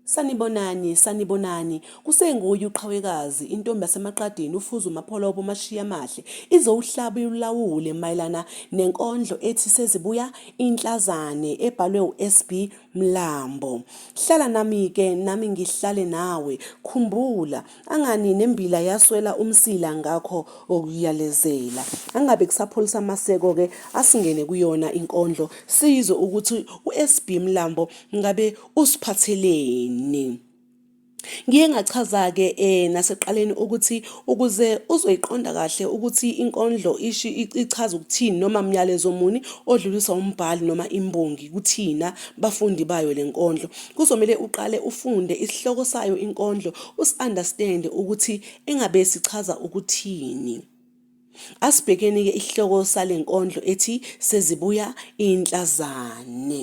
Sanibonani, sanibonani. Kusenguye uqhawekazi, intombi yasemaqadini ufuza umapholobo umashiya amahle. Izowuhlaba iwulawule mayelana nenkondlo ethi sezibuya inhlazane ebhalwe uSB Mlambo, Hlala nami ke nami ngihlale nawe, khumbula angani nembila yaswela umsila ngakho okuyalezela. Angabe kusapholisa amaseko ke asingene kuyona inkondlo sizwe ukuthi uSB Mlambo ngabe usiphatheleni. Ngiye ngachaza-ke um nasekuqaleni ukuthi ukuze uzoyiqonda kahle ukuthi inkondlo ishi ichaza ukuthini noma myalezo muni odluliswa umbhali noma imbongi kuthina bafundi bayo le nkondlo kuzomele uqale ufunde isihloko sayo inkondlo usi-understande ukuthi engabe sichaza ukuthini asibhekeni-ke isihloko sale nkondlo ethi sezibuya inhlazane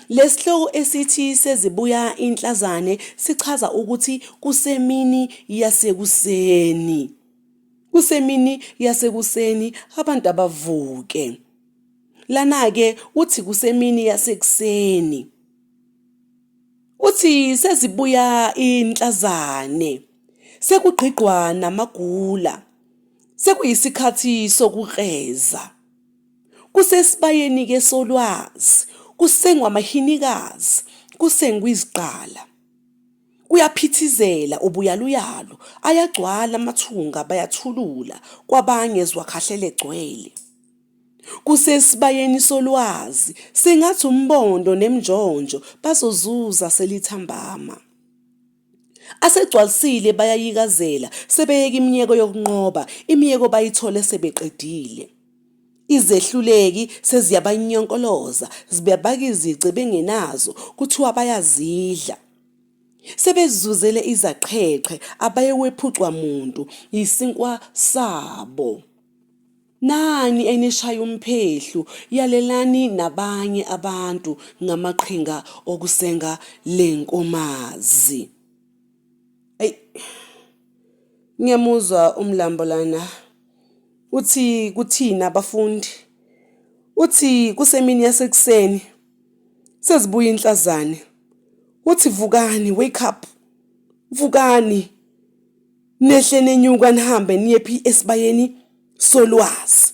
Lesihloko esithi sezibuya inhlazane sichaza ukuthi kusemini yasekuseni. Kusemini yasekuseni abantu abavuke. Lana ke uthi kusemini yasekuseni. Uthi sezibuya inhlazane. Sekugqigqwa namagula. Sekuyisikhathi sokukreza. Kusesibayeni-ke solwazi, kusengwa amahinikazi, kusengwa izigqala. Kuyaphithizela ubuyaluyalu, ayagcwala amathunga bayathulula kwabanye ezwakhahlele gcwele. Kusesibayeni solwazi, sengathi umbondo nemnjonjo bazozuza selithambama. Asegcwalisile bayayikazela, sebeyeka imiyeko yokunqoba, imiyeko bayithole sebeqedile. Izehluleki seziyabanyonkoloza, zibabaka izici bengenazo, kuthiwa bayazidla. Sebezuzele izaqheqhe, abaye wephucwa muntu, yisinkwa sabo. Nani enishaya umphehlu, yalelani nabanye abantu ngamaqhinga okusenga le nkomazi. Eyi, ngiyamuzwa umlambo lana. Uthi kuthina abafundi. Uthi kusemini yasekuseni. Sezibuya inhlazane. Uthi vukani, wake up. Vukani. nehle nenyuka nihambe niye phi esibayeni solwazi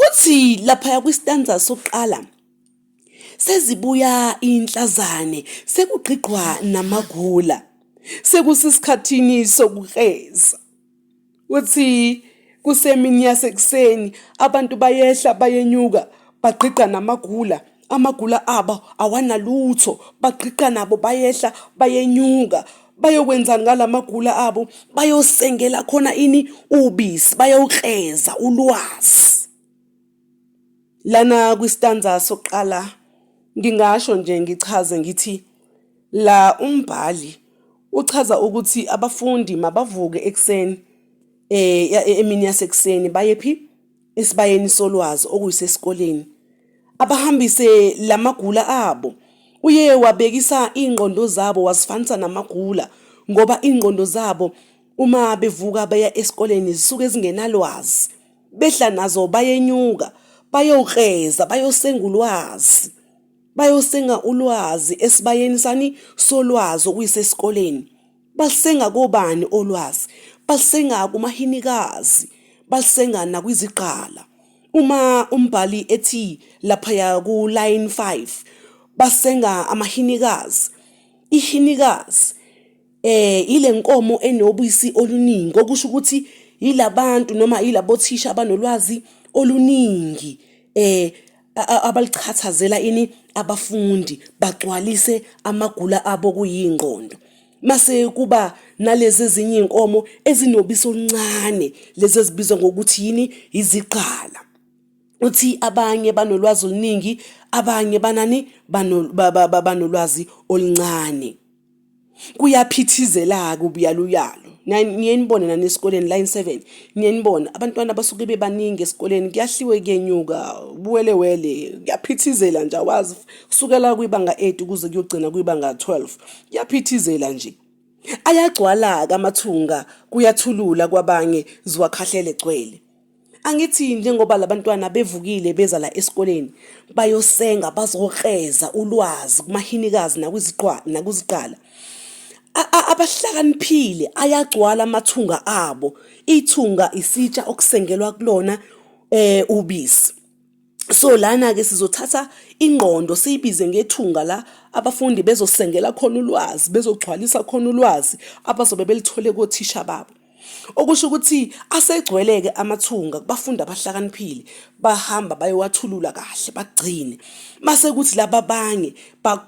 uthi laphaya kwistanza sokuqala sezibuya inhlazane sekugqigqwa namagula sekusisikhathini sokukreza uthi kusemini yasekuseni abantu bayehla bayenyuka bagqigqa namagula amagula abo awanalutho bagqiqa nabo bayehla bayenyuka bayokwenzani ngalamagula abo bayosengela khona ini ubisi bayowukreza ulwazi lana kwistanza sokuqala ngingasho nje ngichaze ngithi la umbhali uchaza ukuthi abafundi mabavuke ekuseni eh e-, emini yasekuseni baye phi esibayeni solwazi okuyisesikoleni abahambise lamagula abo uye wabekisa ingqondo zabo wasifanisa namagula ngoba ingqondo zabo uma bevuka baya esikoleni zisuke zingenalwazi behla nazo bayenyuka bayokreza bayosengulwazi bayosenga ulwazi esibayeni sani solwazi okuyisesikoleni Balisenga kobani olwazi? Balisenga kumahinikazi, balisenga nakwizigqala. Uma umbhali ethi laphaya kulayini 5 basenga amahinikazi, ihinikazi eh ile nkomo enobisi oluningi okusho ukuthi yilabantu noma yilabothisha abanolwazi oluningi eh abalichathazela ini abafundi bagcwalise amagula abo kuyingqondo mase kuba nalezi ezinye inkomo ezinobisi oluncane lezi ezibizwa ngokuthi yini iziqala uthi abanye banolwazi oluningi abanye banani banolwazi oluncane kuyaphithizela-ke ubuyaluyalu niyenibona nani esikoleni line seven niyenibona abantwana basuke bebaningi esikoleni kuyahliwe kuyenyuka ubuwelewele kuyaphithizela nje awazi kusukela kwibanga eight ukuze kuyogcina kwibanga twelve kuyaphithizela nje ayagcwala-ke amathunga kuyathulula kwabanye ziwakhahlele gcwele angithi njengoba labantwana bevukile beza la esikoleni bayosenga bazokreza ulwazi kumahinikazi nakuziqala abahlakaniphile ayagcwala amathunga abo ithunga isitsha okusengelwa kulona eh ubisi So lana ke sizothatha ingqondo siyibize ngethunga la abafundi bezosengela khona ulwazi bezogcwalisa khona ulwazi abazobe belithole kothisha babo okusho ukuthi asegcweleke amathunga kubafundi abahlakaniphile bahamba bayowathulula kahle bagcine mase kuthi laba abanye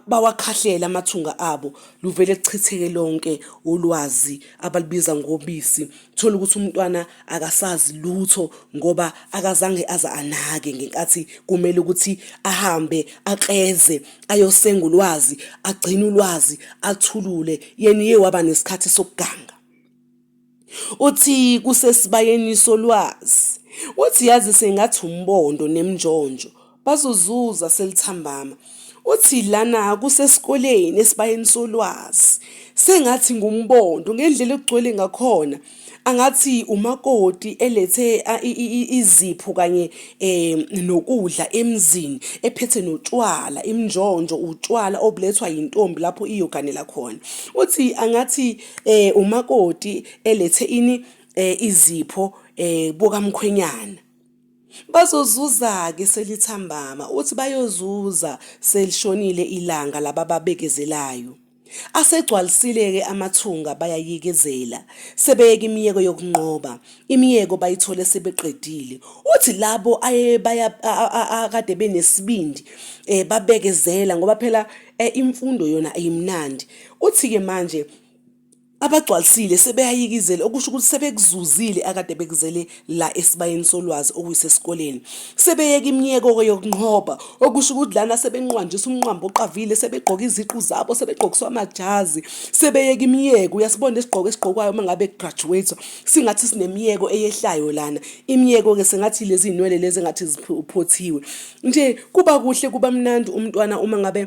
bawakhahlele amathunga abo luvele kuchitheke lonke ulwazi abalubiza ngobisi thola ukuthi umntwana akasazi lutho ngoba akazange aza anake ngenkathi kumele ukuthi ahambe akleze ayosenga ulwazi agcine ulwazi athulule yena iye waba nesikhathi sokuganga uthi kusesibayeni solwazi uthi yazi sengathi umbondo nemnjonjo bazozuza selithambama uthi lana kusesikoleni esibayeni solwazi sengathi ngumbondo ngendlela okugcwele ngakhona angathi umakoti elethe izipho kanye um nokudla emzini ephethe notshwala imnjonjo utshwala obulethwa yintombi lapho iyoganela khona uthi angathi um umakoti elethe ini um izipho um bukamkhwenyana Bazozuza-ke selithambama, uthi bayozuza selishonile ilanga labababekezelayo. Asegcwalisile-ke amathunga bayayikezela, sebeyeka imiyeko yokunqoba, imiyeko bayithole sebeqedile. Uthi labo akade benesibindi um babekezela ngoba phela um imfundo yona ayimnandi. Uthi-ke manje abagcwalisile sebeyayikizela okusho ukuthi sebekuzuzile akade bekuzele la esibayeni solwazi okuyisesikoleni sebeyeka imiyeko-ke yokunqoba okusho ukuthi lana sebenqwanjisa umnqwambo oqavile sebegqoka iziqu zabo sebegqokiswa amajazi sebeyeka imiyeko uyasibona isigqoko esigqokwayo uma ngabe kugraduate singathi sinemiyeko eyehlayo lana imiyeko-ke sengathi lezi zinwele lezi engathi ziphothiwe nje kuba kuhle kuba mnandi umntwana uma ngabe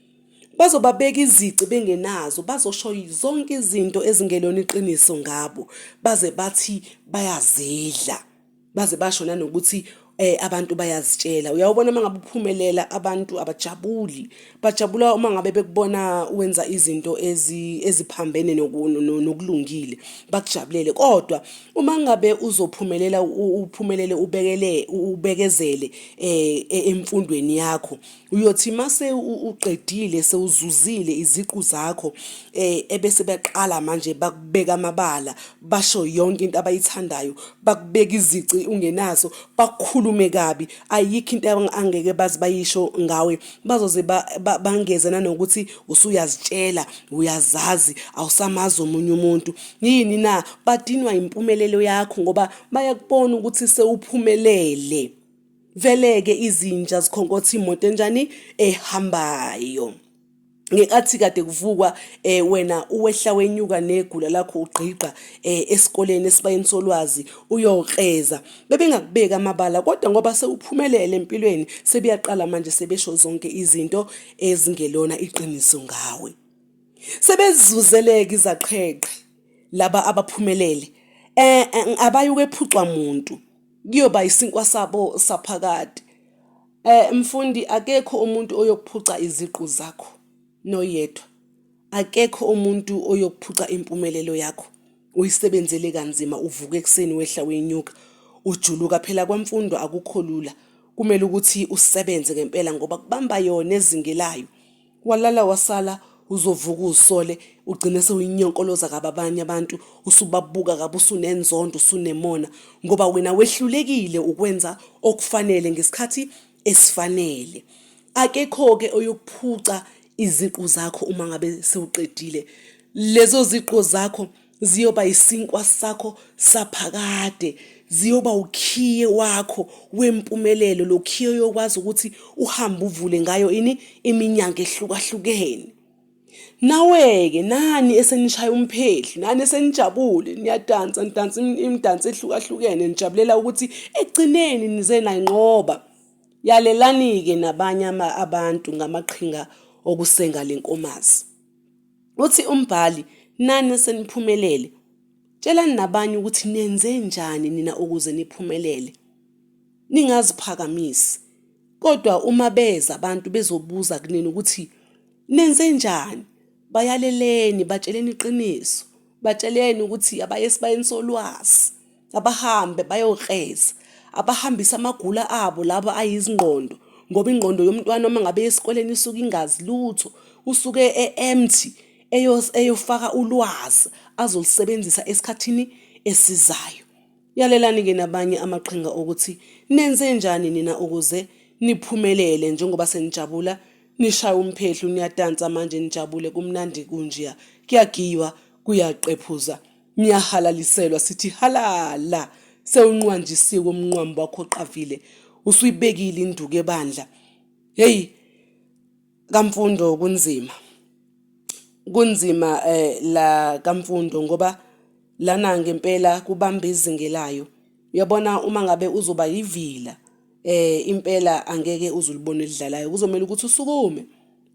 Bazobabeka izici bengenazo, bazosho zonke izinto ezingelona iqiniso ngabo, baze bathi bayazidla, baze basho nanokuthi eh, abantu bayazitshela. Uyawubona uma ngabe uphumelela abantu abajabuli, bajabula uma ngabe bekubona wenza izinto eziphambene nokulungile, bakujabulele. Kodwa uma ngabe uzophumelela uphumelele ubekele ubekezele eh, e-, emfundweni yakho uyothi mase uqedile sewuzuzile iziqu zakho eh ebese baqala manje bakubeka amabala basho yonke into abayithandayo bakubeka izici ungenazo bakhulume kabi ayikho into angeke bazi bayisho ngawe bazoze bangeze nanokuthi usuyazitshela uyazazi awusamazi omunye umuntu yini na badinwa impumelelo yakho ngoba bayakubona ukuthi sewuphumelele Vele-ke izinja zikhonkotha imoto enjani ehambayo. Ngenkathi kade kuvukwa um wena uwehla wenyuka negula lakho ugqigqa um esikoleni esibayeni solwazi uyokreza bebengakubeki amabala kodwa ngoba sewuphumelele empilweni sebeyaqala manje sebesho zonke izinto ezingelona iqiniso ngawe sebezuzeleke izaqheqhe laba abaphumelele um abayukwephucwa muntu kuyoba isinkwa sabo saphakade eh mfundi akekho umuntu oyokuphuca iziqu zakho noyedwa akekho umuntu oyokuphuca impumelelo yakho uyisebenzele kanzima uvuka ekuseni wehla wenyuka ujuluka phela kwemfundo akukho lula kumele ukuthi usebenze ngempela ngoba kubamba yona ezingelayo walala wasala uzovuka uzisole ugcine sewuyinyonkoloza kabi abanye abantu usubabuka kabi usunenzondo usunemona ngoba wena wehlulekile ukwenza okufanele ngesikhathi esifanele akekho-ke oyokuphuca iziqu zakho uma ngabe sewuqedile lezo ziqu zakho ziyoba isinkwa sakho saphakade ziyoba ukhiye wakho wempumelelo lo khiye oyokwazi ukuthi uhambe uvule ngayo ini iminyango ehlukahlukene nawe-ke nani esenishaya umphehli nani esenijabule niyadansa nidansa imidanso ehlukahlukene nijabulela ukuthi ekugcineni nize nayinqoba yalelani-ke nabanye abantu ngamaqhinga okusenga le nkomazi Uthi umbhali, Nani seniphumelele, tshelani nabanye ukuthi nenze njani nina ukuze niphumelele. Ningaziphakamisi. Kodwa uma beza abantu bezobuza kunina ukuthi nenze njani, bayaleleni, batsheleni iqiniso, batsheleni ukuthi abaye esibayeni solwazi. abahambe bayokreza abahambise amagula abo laba ayizingqondo ngoba ingqondo yomntwana uma ngabe esikoleni isuke ingazi lutho usuke e-empty eyofaka ulwazi azolusebenzisa esikhathini esizayo yalelani-ke nabanye amaqhinga okuthi nenze njani nina ukuze niphumelele njengoba senijabula nishaya umphehlu niyadansa manje nijabule kumnandi kunjiya kuyagiywa kuyaqephuza Ngiyahalaliselwa sithi halala sewunqwanjisiwe umnqwamu wakho oqavile usuyibekile induku ebandla. Hey kamfundo kunzima. Kunzima eh la kamfundo ngoba lana ngempela kubamba izinge layo. Uyabona uma ngabe uzoba yivila eh impela angeke uzulibone lidlalayo kuzomela ukuthi usukume.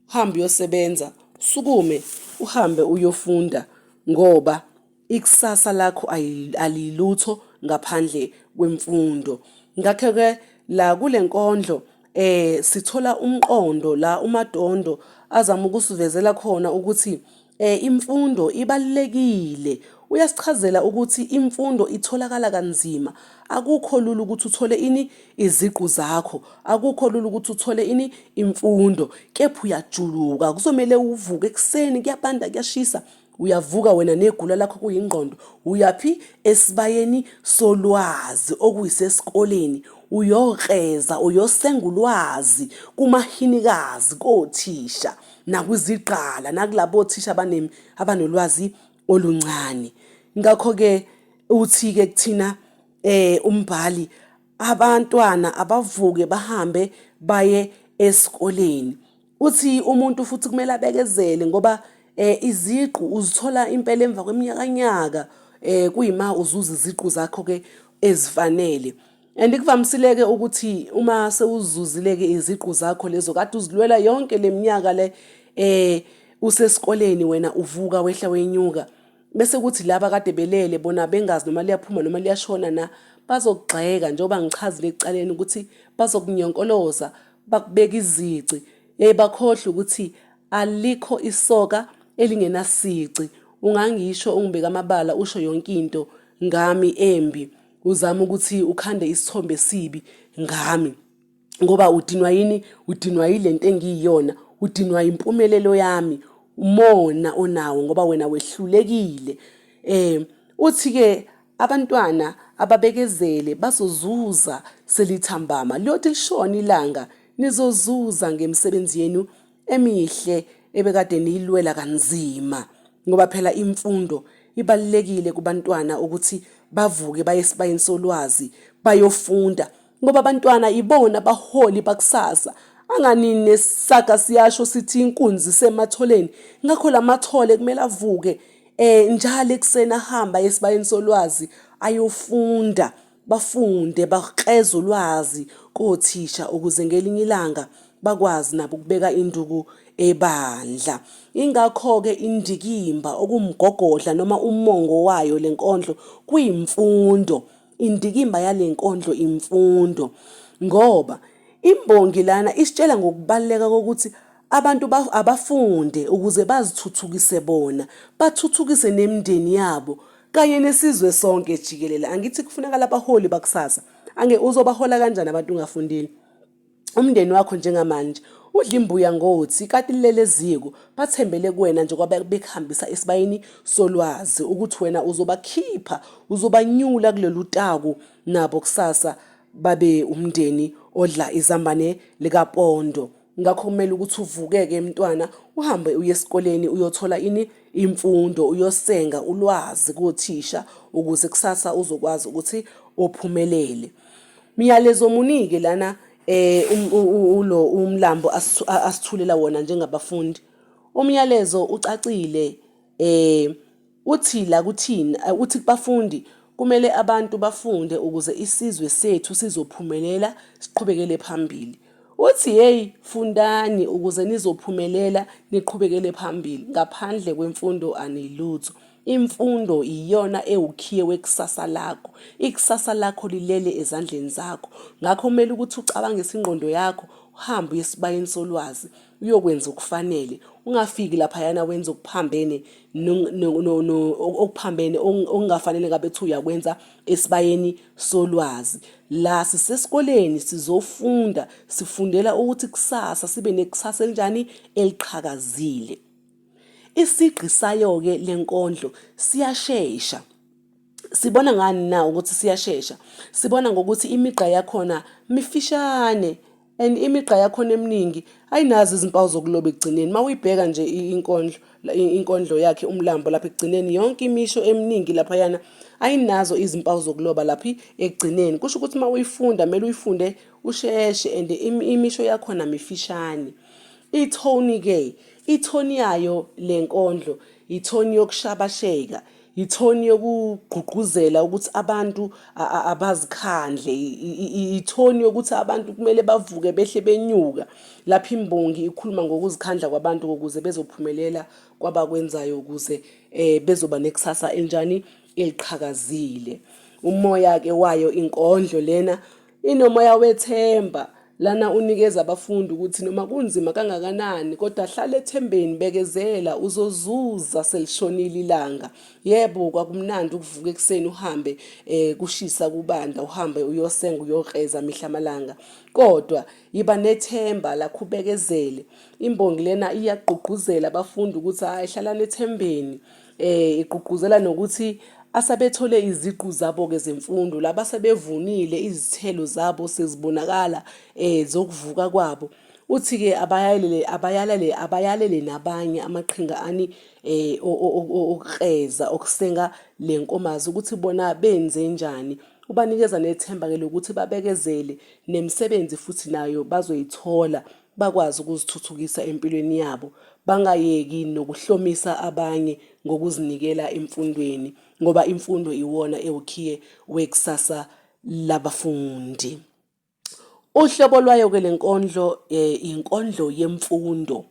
uhambe uyosebenza usukume uhambe uyofunda ngoba ikusasa lakho alilutho ngaphandle kwemfundo ngakho ke la kule nkondlo eh sithola umqondo la umadondo azama ukusivezela khona ukuthi Eh imfundo ibalulekile. Uyasichazela ukuthi imfundo itholakala kanzima. Akukho lula ukuthi uthole ini iziqu zakho. Akukho lula ukuthi uthole ini imfundo. Kepha uyajuluka. Kuzomele uvuke ekuseni kuyabanda kuyashisa. Uyavuka wena negula lakho kuyingqondo. Uyaphi esibayeni solwazi okuyisesikoleni. Uyokreza uyosenga ulwazi kumahinikazi kothisha. nakwizigqala nakulabo thisha abanem abanolwazi oluncane ngakho ke uthi ke kuthina eh umbhali abantwana abavuke bahambe baye esikoleni uthi umuntu futhi kumele abekezele ngoba eh iziqu uzithola impela emva kweminyakanyaka eh kuyima uzuza iziqu zakho ke ezifanele And kuvamisileke ukuthi uma sewuzuzileke iziqu zakho lezo kade uzilwela yonke leminyaka le eh usesikoleni wena uvuka wehla wenyuka bese kuthi laba kade belele bona bengazi noma liyaphuma noma liyashona na bazokugxeka njengoba ngichazile ekuqaleni ukuthi bazokunyonkoloza bakubeka izici yaye bakhohlwe ukuthi alikho isoka elingenasici ungangisho ungibeka amabala usho yonke into ngami embi uzama ukuthi ukhande isithombe esibi ngami ngoba udinwa yini udinwa yilento engiyiyona udinwa impumelelo yami umona onawo ngoba wena wehlulekile eh uthi ke abantwana ababekezele bazozuza selithambama liyothi lishona ilanga nizozuza ngemisebenzi yenu emihle ebekade niyilwela kanzima ngoba phela imfundo ibalulekile kubantwana ukuthi bavuke baye esibayeni solwazi bayofunda ngoba abantwana ibona baholi bakusasa angani nesaga siyasho sithi inkunzi sematholeni ngakho lamathole kumele avuke eh njalo ekuseni ahamba esibayeni solwazi ayofunda bafunde bakreze ulwazi kothisha ukuze ngelinye ilanga bakwazi nabo ukubeka induku ebandla ingakho-ke indikimba okumgogodla noma umongo wayo le nkondlo kwimfundo indikimba yale nkondlo imfundo ngoba imbongi lana isitshela ngokubaluleka kokuthi Abantu abafunde ukuze bazithuthukise bona, bathuthukise nemindeni yabo kanye nesizwe sonke jikelele. Angithi kufunakala abaholi bakusasa. Ange uzobahola kanjani abantu ungafundile? Umndeni wakho njengamanje udla imbuya ngothi kati lilele eziko bathembele kuwena nje kwabe bekuhambisa esibayeni solwazi ukuthi wena uzobakhipha uzobanyula kulolu taku nabo kusasa babe umndeni odla izambane likapondo. ngakho kumele ukuthi uvukeke mntwana uhambe uye esikoleni uyothola ini imfundo uyosenga ulwazi kothisha ukuze kusasa uzokwazi ukuthi ophumelele miyalezo munike lana eh um, ulo umlambo asithulela wona njengabafundi umyalezo ucacile eh Uthi la kuthina, uthi kubafundi, kumele abantu bafunde ukuze isizwe sethu sizophumelela siqhubekele phambili. Uthi hey fundani ukuze nizophumelela niqhubekele phambili ngaphandle kwemfundo anilutho. Imfundo iyona ewukhiye wekusasa lakho. Ikusasa lakho lilele ezandleni zakho. Ngakho kumele ukuthi ucabange isingqondo yakho uhambe uye esibayeni solwazi. uyokwenza okufanele ungafiki laphayana wenza okuphambene okuphambene okungafanele ngabe thi uyakwenza esibayeni solwazi la sisesikoleni sizofunda sifundela ukuthi kusasa sibe nekusasa elinjani eliqhakazile isigqi sayo-ke le nkondlo siyashesha sibona ngani na ukuthi siyashesha sibona ngokuthi imigqa yakhona mifishane and imigqa yakhona eminingi ayinazo izimpawu zokuloba ekugcineni uma uyibheka nje inkondlo inkondlo yakhe umlambo lapha ekugcineni yonke imisho eminingi laphayana ayinazo izimpawu zokuloba laphi ekugcineni kusho ukuthi uma uyifunda kumele uyifunde usheshe and imisho yakhona mifishane ithoni-ke ithoni yayo le nkondlo yithoni yokushabasheka ithoni yokugqugquzela ukuthi abantu abazikhandle ithoni yokuthi abantu kumele bavuke behle benyuka lapho imbongi ikhuluma ngokuzikhandla kwabantu ukuze bezophumelela kwabakwenzayo ukuze um bezoba nekusasa enjani eliqhakazile umoya-ke wayo inkondlo lena Inomoya wethemba lana unikeza abafundi ukuthi noma kunzima kangakanani kodwa hlala ethembeni bekezela uzozuza selishonile ilanga yebo kwakumnandi ukuvuka ekuseni uhambe eh kushisa kubanda uhambe uyosenga uyokreza mihla malanga kodwa yiba nethemba lakho ubekezele imbongi lena iyagqugquzela abafundi ukuthi hayi hlalani ethembeni Eh igqugquzela nokuthi asabethole iziqu zabo-ke zemfundo laba sebevunile izithelo zabo sezibonakala eh zokuvuka kwabo uthi-ke abayalele abayalele abayalele nabanye amaqhinga ani eh okreza okusenga le nkomazi ukuthi bona benze njani ubanikeza nethemba-ke lokuthi babekezele nemisebenzi futhi nayo bazoyithola bakwazi ukuzithuthukisa empilweni yabo bangayeki nokuhlomisa abanye ngokuzinikela emfundweni ngoba imfundo iwona ewukhiye wekusasa labafundi uhlobo lwayo-ke le nkondlo um inkondlo yemfundo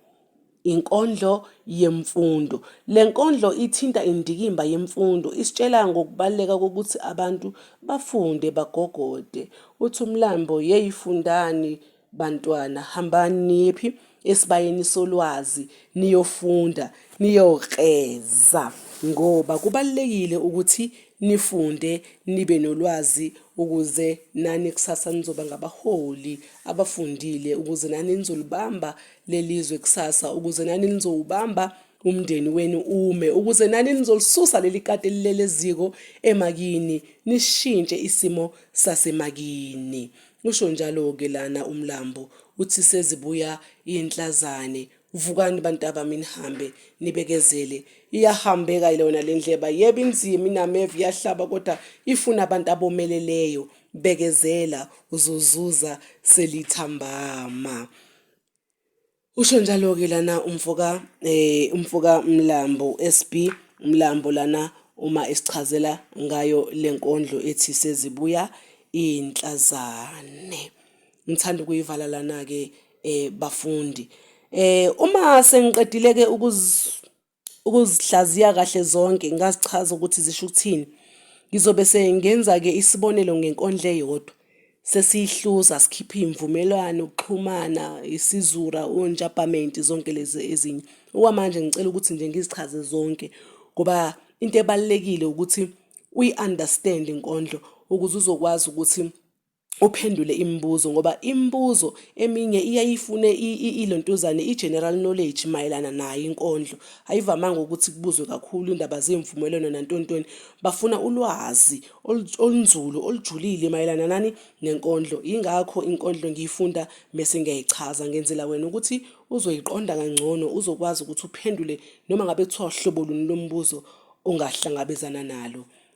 Inkondlo yemfundo. Le nkondlo ithinta indikimba yemfundo, isitshela ngokubaluleka kokuthi abantu bafunde bagogode. Uthi umlambo, yeyi fundani bantwana, hambani niyephi esibayeni solwazi niyofunda niyokreza ngoba kubalulekile ukuthi nifunde nibe nolwazi ukuze nani kusasa nizoba ngabaholi abafundile ukuze nani nizolibamba lelizwe kusasa ukuze nani nizowubamba umndeni wenu ume ukuze nani nizolisusa leli kati elilele eziko emakini nishintshe isimo sasemakini usho njalo ke lana umlambo uthi sezibuya inhlazane vukani bantaba minihambe nibekezele iyahambeka ilona lendleba yebo inzima inameva iyahlaba kodwa ifuna abantu abomeleleyo bekezela uzozuza selithambama Usho njalo-ke lana umfoka eh umfoka Mlambo SB Mlambo lana uma esichazela ngayo lenkondlo ethi sezibuya inhlazane ngithanda ukuyivala lana ke eh bafundi eh uma sengiqedile ke ukuz ukuzihlaziya kahle zonke ngazichaza ukuthi zisho ukuthini ngizobe sengenza-ke isibonelo ngenkondlo eyodwa sesiyihluza sikhipha iy'mvumelwano ukuxhumana isizura onjabhamenti zonke lezi ezinye okwamanje ngicela ukuthi nje ngizichaze zonke ngoba into ebalulekile ukuthi uyi-understand inkondlo ukuze uzokwazi ukuthi uphendule imibuzo ngoba imibuzo eminye iyayifune ilontuzane i-general knowledge mayelana nayo inkondlo ayivamanga ukuthi kubuzwe kakhulu indaba zemvumelwano nantontoni bafuna ulwazi olunzulu olujulile mayelana nani nenkondlo yingakho inkondlo ngiyifunda mese ngiyayichaza ngenzela wena ukuthi uzoyiqonda kangcono uzokwazi ukuthi uphendule noma ngabe kuthiwa hlobo luni lombuzo ongahlangabezana nalo